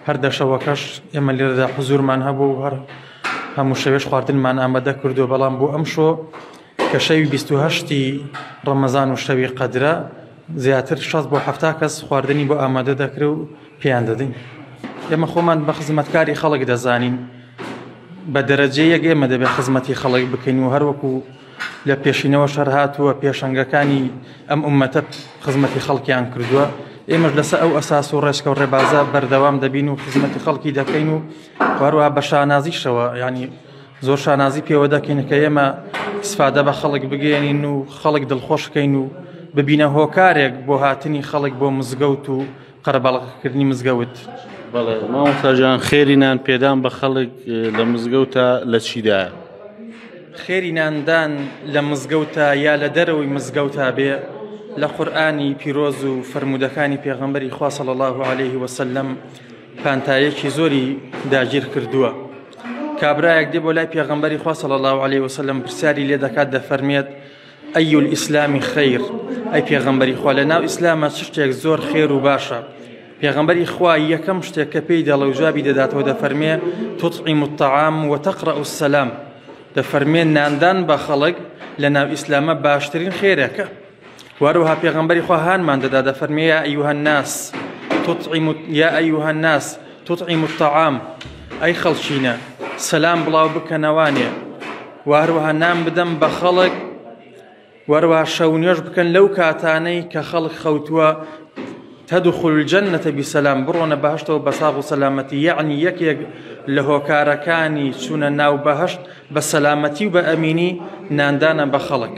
هەر دە شەوەکەش ئێمە لێرەدا حزورمان هەبوو و هەر هەموو شەوێش خواردنمان ئامادە کردو بەڵام بۆ ئەم شۆ کە شەوی 28ی ڕەمەزان و شەوی قەدرە زیاتر شەز بۆ هەفتا کەس خواردنی بۆ ئامادە دەکرێ و پێیان دەدەین ئێمە خۆمان بە خزمەتکاری خەڵک دەزانین بە دەرەجەیەک ئێمە دەبێت خزمەتی خەڵک بکەین و هەروەکو لە پێشینەوە شەر هاتووە پێشەنگەکانی ئەم ئومەتە خزمەتی خەڵکیان کردووە ئێمەش لەسەر ئەو ئەساس و ڕێچکە و ڕێبازە بەردەوام دەبین و خزمەتی خەڵکی دەکەین و هەروە بە شانازیشەوە ینی زۆر شانازی پێوە دەکەین کە ئێمە سفادە بە خەڵک بگەێنین و خەڵک دڵخۆشکەین و ببینە هۆکارێک بۆ هاتنی خەڵک بۆ مزگەوت و قەرەباڵغکردنی مزگەوت. بەڵێ مامۆستاجان خێری نان پێدان بە خەڵک لە مزگەوتە لە چیدایە؟ خێری ناندان لە مزگەوتە یا لە دەرەوەی مزگەوتا بێ لە قورآانی پیرۆز و فرەرمودەکانی پێغەمبەری خواصە لە الله عليه وسلم پانتایەکی زۆری داگیر کردووە. کابراایەک دێ بۆ لای پێغەمبەری خواصە لە الله عليه وسلم پرسیاری لێ دەکات دەفەرمێت، ئەی الاسلام خیر ئەی پێغەمبەری خوا لە ناو ئیسلامە چ شتێک زۆر خێر و باشە پێغەمبەری خوا یەکەم شتێک کە پێی دەڵێ و جوابی دەداتەوە دەفەرمێ تطعیم الطعام وتقرأ السلام دەفەرمێ ناندان بە خەڵک لە ناو ئیسلامە باشترین خێرەکە وەروها پێغەمبەری خوا هانمان دەدا دەفەرمێ یا ئەیها الناس تطعیم یا ئەیها الناس تطعیم الطعام ئەی خەڵچینە سەلام بڵاو بکەنەوانێ و هەروەها نان بدەم بە خەڵک وەروە شەو نوێش بکەن لەو کاتانەی کە خەڵک خەوتووە تدخل الجنة بسلام بڕۆنە بەهشتەوە بە ساغ و سەلامەتی یعنی یەکێک لە هۆکارەکانی چوونە ناو بەهشت بە سەلامەتی و بە ئەمینی ناندانە بە خەڵک.